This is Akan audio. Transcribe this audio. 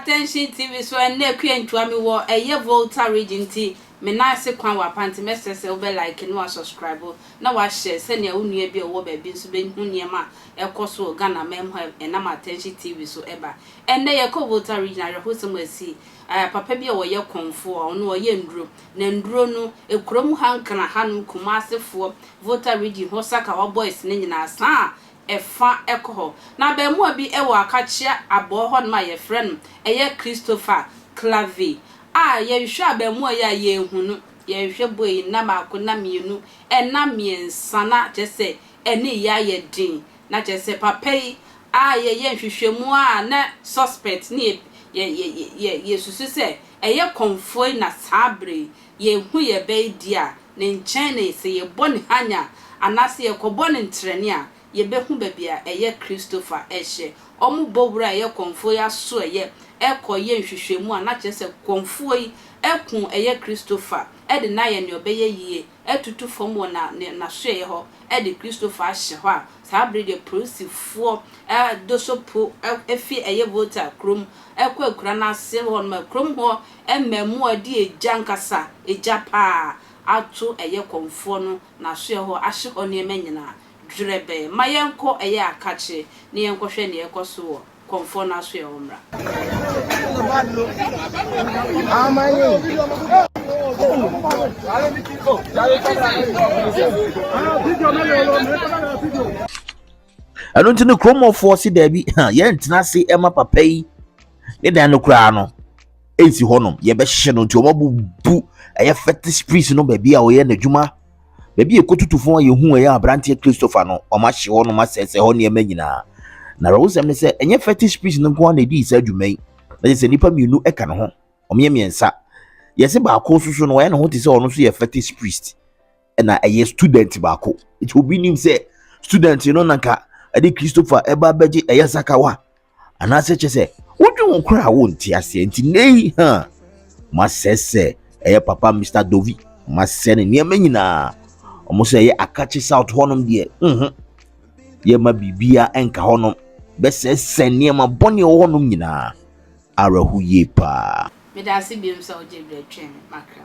Attention TV so ɛnna akua ntua mi wɔ ɛyɛ Volta region nti me nan ase kwan wɔ apa nti mɛsrɛ sɛ wobɛ like na wasubscribe na wahyɛ sɛnea wo nua bi a ɔwɔ baabi nso bɛhu nneɛma a ɛkɔ so wɔ Ghana man mu a ɛnam Attention TV so ɛba. Ɛnnɛ yɛkɔ Volta Region awerɛhosɛm asi eh, papa bi a ɔyɛ kɔnfoɔ, ɔno ɔyɛ nnuro, na nnuro no kurom ha Nkran ha nom Kumasefoɔ, Volta Region hɔ Sakawa boys no nyinaa saa a ɛfa kɔ hɔ. Na abarimaa bi wɔ Akakyea abɔɔ hɔnom a yɛfrɛ no ɛyɛ Christopher Clave a yɛhwɛ abarimaa yi a yɛnhu no, yɛhwɛ bɔ yi nna mmaako, nna mmienu, nna mmiɛnsa na kyerɛ sɛ ɛne yɛ ayɛ den na kyerɛ sɛ papa yi a yɛyɛ nhwehwɛmu a na suspect ne yɛ yɛ yɛ yɛ yɛsusu sɛ ɛyɛ kɔmfoe na saa bere yi yɛhu yɛ bɛ yi deɛ a ne nkyɛn na sɛ yɛbɔ ne hanya anaasɛ yɛkɔbɔ no ntrɛne a yɛbɛhu baabi a ɛyɛ Christopher ɛhyɛ wɔn bɔ wura a ɛyɛ kɔmfoɔ yi aso ɛyɛ ɛkɔ yɛ nhwehwɛmu a na kyerɛ sɛ kɔmfoɔ yi ɛko ɛyɛ Christopher ɛde no ayɛ nea ɔbɛyɛ yie atutu fam wɔ na ne n'asoɛeɛ hɔ de Kristofo ahyɛ hɔ a, saa bere deɛ polisifoɔ do so po fi ɛyɛ Volta kurom kɔ akura no ase hɔ nom a kurom hɔ mmaamua de egya ankasa, egya paa, ato ɛyɛ kɔmfoɔ no n'asoɛeɛ hɔ ahye hɔ nneɛma nyinaa dwerɛbɛɛ. Ma yɛnkɔ ɛyɛ Akache na yɛnkɔhwɛ nea ɛrekɔ so wɔ Kɔmfoɔ no asoɛ wɔ mmra. ɛno nti no kuromɔfoɔ se daabi yɛntena ase ɛma papa yi ne dan no koraa no ɛnsi hɔnom yɛbɛhye no nti wɔabubu ɛyɛ fetish priest no baabi a ɔyɛ n'adwuma Baabi a ɛkɔtutu fo a yɛhu ɛyɛ aberanteɛ Christopher no, wɔahye hɔ nom asɛesɛe hɔ nneɛma nyinaa. Na awerɛhosɛm ne sɛ, ɛnyɛ fetish priest no nko ara na ɛdii saa dwuma yi, na kyerɛ sɛ nnipa mmienu ka ne ho, wɔyɛ mmiɛnsa. Yɛse baako nso so no, wɔyɛ ne ho te sɛ ɔno nso yɛ fetish priest, ɛna ɛyɛ student baako. Nti obi nim sɛ student no na nka ɛde Christopher ɛba abɛgye ɛyɛ sakawa. anaasɛ kyɛ sɛ wodwe ho koraa a wonte aseɛ nti nnɛ yi ha masɛ sɛ ɛyɛ papa mr dovi masɛ ne nneɛma nyinaa ɔmo sɛ ɛyɛ akakye south hɔnom deɛ nho yɛma biribia ɛnka hɔnom bɛsɛsɛ nneɛma bɔne wɔ hɔnom nyinaa awerɛho yie paa Meda ase biom sɛ wogye berɛ twɛn makra.